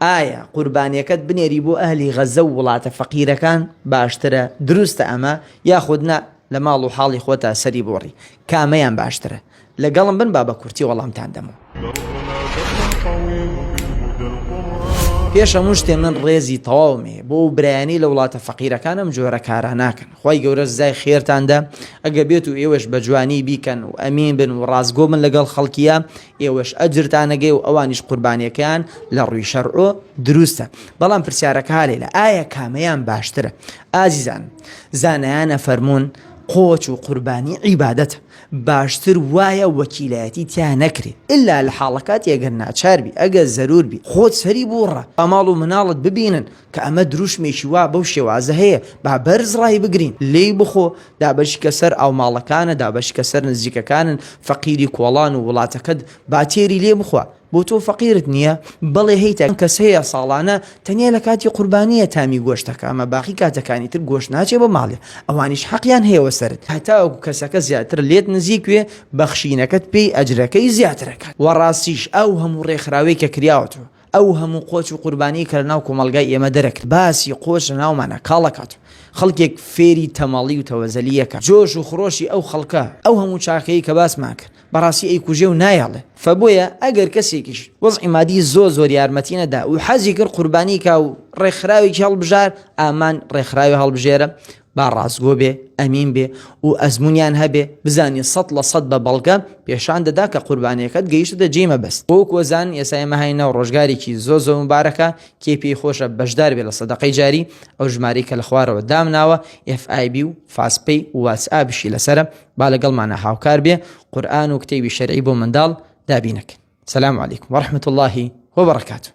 ئایا قوربانیەکەت بنێری بۆ ئەهلی غەزە و وڵاتە فەقیرەکان باشترە دروستە ئەمە یاخود نا لە ماڵ و حاڵی خۆتا سەری بۆڕی کامەیان باشترە لەگەڵم بن با بە کورتی وەڵامتان دەمەوە. پێش هەموو شتێ من ڕێزی تەواوم هەیە بۆ ئەو برایانەی لە وڵاتە فەقیرەکان ئەم جۆرە کارە ناکەن خوای گەورە سزای خێرتاندا ئەگە بێت و ئێوەش بە جوانی بیکەن و ئەمین بن و ڕاستگۆ بن لەگەڵ خەڵکیە ئێوەش ئەجرتان ئەگەێ و ئەوانیش قوربانیەکەیان لە ڕووی شەرع و دروستە بەڵام پرسیارەکە ها لێلە ئایا کامەیان باشترە ئازیزان زانایان ئەفەرموون قۆچ و قوربانی عیبادەتە باشتر وایە وەکیلایەتی تیا نەکرێ ئللا لە حاڵەکاتی ئەگەر ناچار بی ئەگەر زەرور بی خۆت سەری بووڕە ئەماڵ و مناڵت ببینن کە ئەمە دروشمێکی وا بەو شێوازە هەیە با بەرز ڕایبگرین، لێی بخۆ، دابەشیکە سەر ئاوماڵەکانە، دابەشیکە سەر نزیکەکانن، فەقیری کۆڵان و وڵاتەکەت با تێری لێ بخوا، بۆ تۆ فەقیرت نییە؟ بەڵێ هەیتا کەم کەس هەیە ساڵانە تەنیا لە کاتی قوربانییە تامی گۆشت دەکا، ئەمە باقی کاتەکانی تر گۆشت ناچێ بە ماڵێ، ئەوانیش حەقیان هەیە وە سەرت، هەتاوەکو کەسەکە زیاتر لێت نزیک بێ بەخشینەکەت پێی ئەجرەکەی زیاتر ئەکات، وە ڕاستیش ئەو هەموو ڕێکخراوەی کە کریاوەتەوە ئەو هەموو قۆچ و قوربانیەی کە لە ناو کۆمەڵگای ئێمە دەرەکرد باسی قۆچ لە ناومانا کاڵ ئەکات و خەڵکێک فێری تەمەڵی و تەوەزەلی ئەکات جۆش و خرۆشی ئەو خەڵکە ئەو هەموو چاکەی کە باسمان کرد بەڕاستی ئەیکوژێ و نایەڵێ فە بۆیە ئەگەر کەسێکیش وەزعی مادی زۆر زۆر یارمەتی نەدا و حەزی کرد قوربانی کا و ڕێکخراوێکی هەڵبژار ئامان ڕێکخراوی هەڵبژێرە با ڕاستگۆ بێ، ئەمین بێ و ئەزموونیان هەبێ، بزانین سەد لە سەد بە بەڵگە پێشان دەدا کە قوربانییەکەت گەیشتۆتە جێی مەبەست. بۆ کۆزان، ئێستا ئێمە هاین ناو ڕۆژگارێکی زۆر زۆر موبارەکە، کێ پێی خۆشە بەشدار بێ لە سەدەقەی جاری، ئەو ژمارەی کە لە خوارەوە دامناوە، FIB و FastPay و WhatsAppشی لەسەرە، با لەگەڵمانا هاوکار بێ، قورئان و کتێبی شەرعی بۆ منداڵ دابینەکەین. سلام علیکم ورحمة اللە وبرکاته.